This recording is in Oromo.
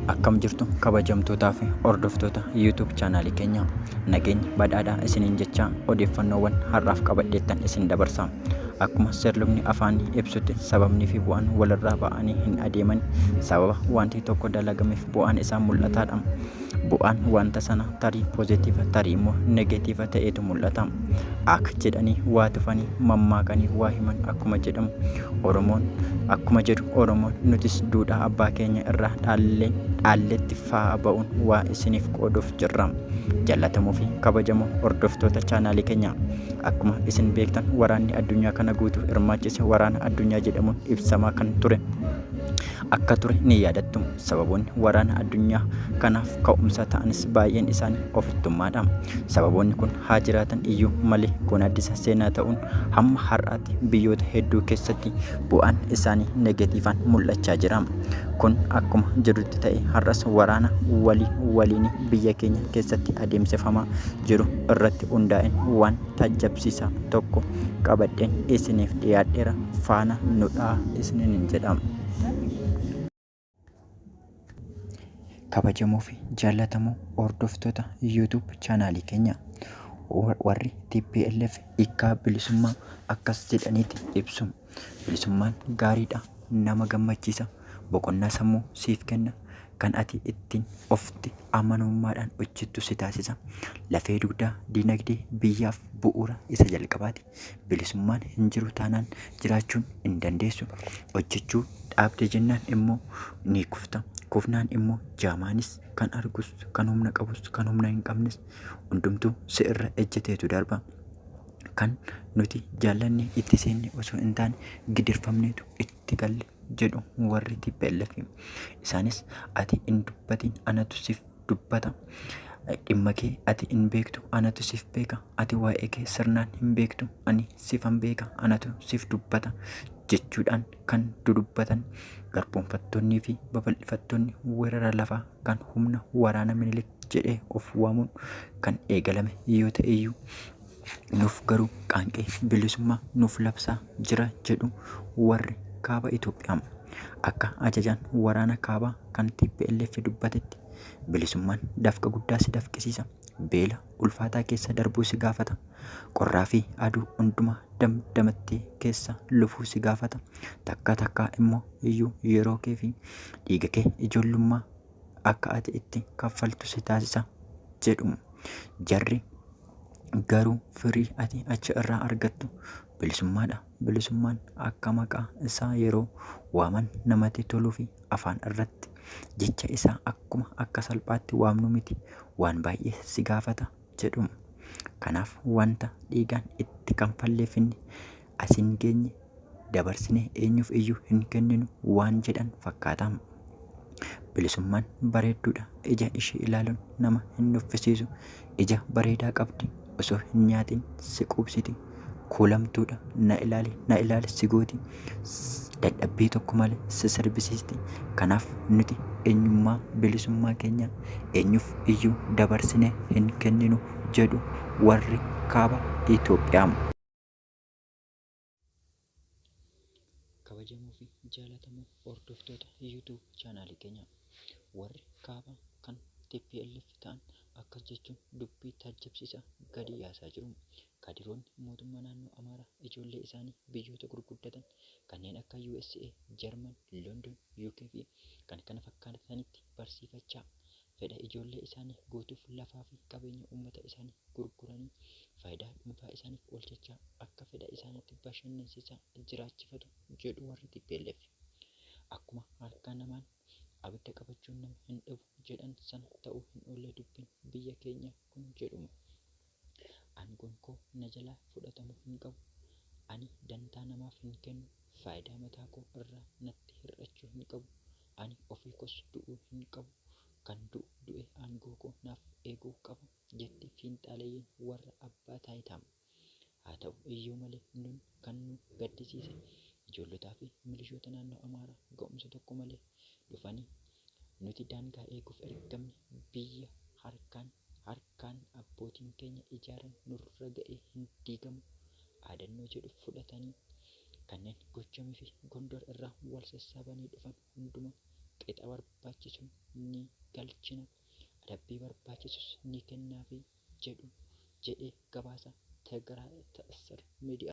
akkam jirtu kabajamtootaa fi hordoftoota YouTube chaanaalii keenya nageenya badhaadhaa isiniin jechaa odeeffannoowwan har'aaf qabadheettan isin dabarsa. Akkuma seerlubni afaanii ibsutti sababnii fi bu'aan walirraa ba'anii hin adeeman. Sababa wanti tokko dalagameef bu'aan isaa mul'ataadha. Bu'aan wanta sana tarii poozitiiva tarii immoo negeetiiva ta'eetu mul'ata. Ak jedhanii waa tufanii mammaakanii waa himan akkuma jedhamu Oromoon akkuma jedhu Oromoon nutis duudhaa abbaa keenya irraa dhaallee dhaalletti fa'aa ba'uun waa isiniif qooduuf jirra. Jallatamoo fi kabajamoo hordoftoota chaanaalii keenyaa akkuma isin beektan waraanni addunyaa kana guutuu hirmaachise waraana addunyaa jedhamuun ibsamaa kan ture akka ture ni yaadattu. Sababoonni waraana addunyaa kanaaf ka'umsa ta'anis baay'een isaanii ofittummaadha. Sababoonni kun haa jiraatan iyyuu malee kun addisa seenaa ta'uun hamma har'aatti biyyoota hedduu keessatti bu'aan isaanii negatiifaan mul'achaa jira. Kun akkuma jirutti ta'e har'as waraana walii waliin biyya keenya keessatti adeemsifamaa jiru irratti hundaa'een waan taajjabsiisaa tokko qabadheen isiniif dhiyaadheera faana nudhaa isiniin jedhama. kabajamoo fi jaallatamoo hordoftoota YouTube chaanaalii keenya warri TPLF hiikkaa bilisummaa akkas jedhaniiti ibsu. Bilisummaan gaariidha, nama gammachiisa, boqonnaa sammuu siif kenna, kan ati ittiin ofti amanummaadhaan hojjettu si taasisa. Lafee dugdaa dinagdee biyyaaf bu'uura isa jalqabaati. Bilisummaan hin jiru taanaan jiraachuun hin dandeessu. Hojjechuu dhaabde jennaan immoo ni kufta. Kufnaan immoo jaamaanis kan argus, kan humna qabus, kan humna hin qabnes hundumtuu si irra ejjeteetu darba. Kan nuti jaallanne itti seenne osoo hin taane gidirfamneetu itti galle jedhu warri TPLF. Isaanis ati hin dubbatiin anatu sif dubbata. Dhimma kee ati hin beektu, anatu siif beeka. Ati waa'ee kee sirnaan hin beektu, ani siifan beeka, anatu siif dubbata jechuudhaan kan dudubbatan garboomfattoonnii fi babal'ifattoonni weerara lafaa kan humna waraana minilik jedhee of waamuun kan eegalame yoo ta'eyyuu Nuuf garuu qaanqee bilisummaa nuuf labsaa jira jedhu warri kaaba Itoophiyaa. Akka ajajaan waraana kaabaa kan TPLF dubbatetti bilisummaan dafqa guddaa si dafqisiisa. Beela ulfaataa keessa darbuu si gaafata. Qorraa fi aduu hundumaa damdamattee keessa lufuu si gaafata. Takka takkaa immoo iyyuu yeroo kee fi dhiiga kee ijoollummaa akka ati itti kaffaltu si taasisa jedhu. Jarri Garuu firii ati achi irraa argattu bilisummaadha. Bilisummaan akka maqaa isaa yeroo waaman namatti toluu fi afaan irratti jecha isaa akkuma akka salphaatti waamnu miti waan baay'ee si gaafata jedhu. Kanaaf wanta dhiigaan itti kanfalleefinni as hin geenye dabarsinee eenyuuf iyyuu hin kenninu waan jedhan fakkaata. Bilisummaan bareedduudha. Ija ishii ilaaluun nama hin nuffisiisu. Ija bareedaa qabdi. Osoo hin nyaatiin si quubsiti. Kuulamtuudha. Na ilaali, na ilaali si gooti. S- Dadhabbii tokko malee si sirbisiisti. Kanaaf nuti eenyummaa bilisummaa keenya eenyuuf iyyuu dabarsinee hin kenninu jedhu warri kaaba Itoophiyaa. kabajamoo fi jaalatamoo hordoftoota YouTube chaanaalii keenya warri kaaba kan TPLF ta'an akkas jechuun dubbii taajjabsiisaa gadi yaasaa jiru. Kadiroonni mootummaa naannoo Amaaraa ijoollee isaanii biyyoota gurguddatan kanneen akka USA, Jarman, London, UK fi kan kana fakkaatanitti barsiifachaa fedha ijoollee isaanii guutuuf lafaa fi qabeenya uummata isaanii gurguranii faayidaa dhuunfaa isaaniif oolchachaa akka fedha isaaniitti bashannansiisaa jiraachifatu jedhu warri tplf. Akkuma harkaa namaan abidda qabachuun nama hin dhibu jedhan sana ta'uu hin oolle dubbiin biyya keenyaa kun jedhuma. Aangoon koo na jalaa fudhatamu hin qabu. Ani dantaa namaaf hin kennu. Faayidaa mataa koo irraa natti hir'achuu hin qabu. Ani ofii koos du'uu hin qabu. Kan du'u du'ee aangoo koo naaf eeguu qaba, jetti fiinxaaleyyiin warra abbaa taayitaa. Haa ta'u iyyuu malee nun kan nu gaddisiise ijoollotaa fi milishoota naannoo Amaaraa ga'umsa tokko malee dhufanii Nuti daangaa eeguuf ergamne, biyya harkaan harkaan abbootiin keenya ijaaran nurra ga'ee hin diigamu dhaadannoo jedhu fudhatanii kanneen Gojjam fi Gondor irraa wal sassaabanii dhufan hundumaa qixa barbaachisuun ni galchina, adabbii barbaachisus ni kennaafii jedhu jedhee gabaasa Tigray Tessar Media.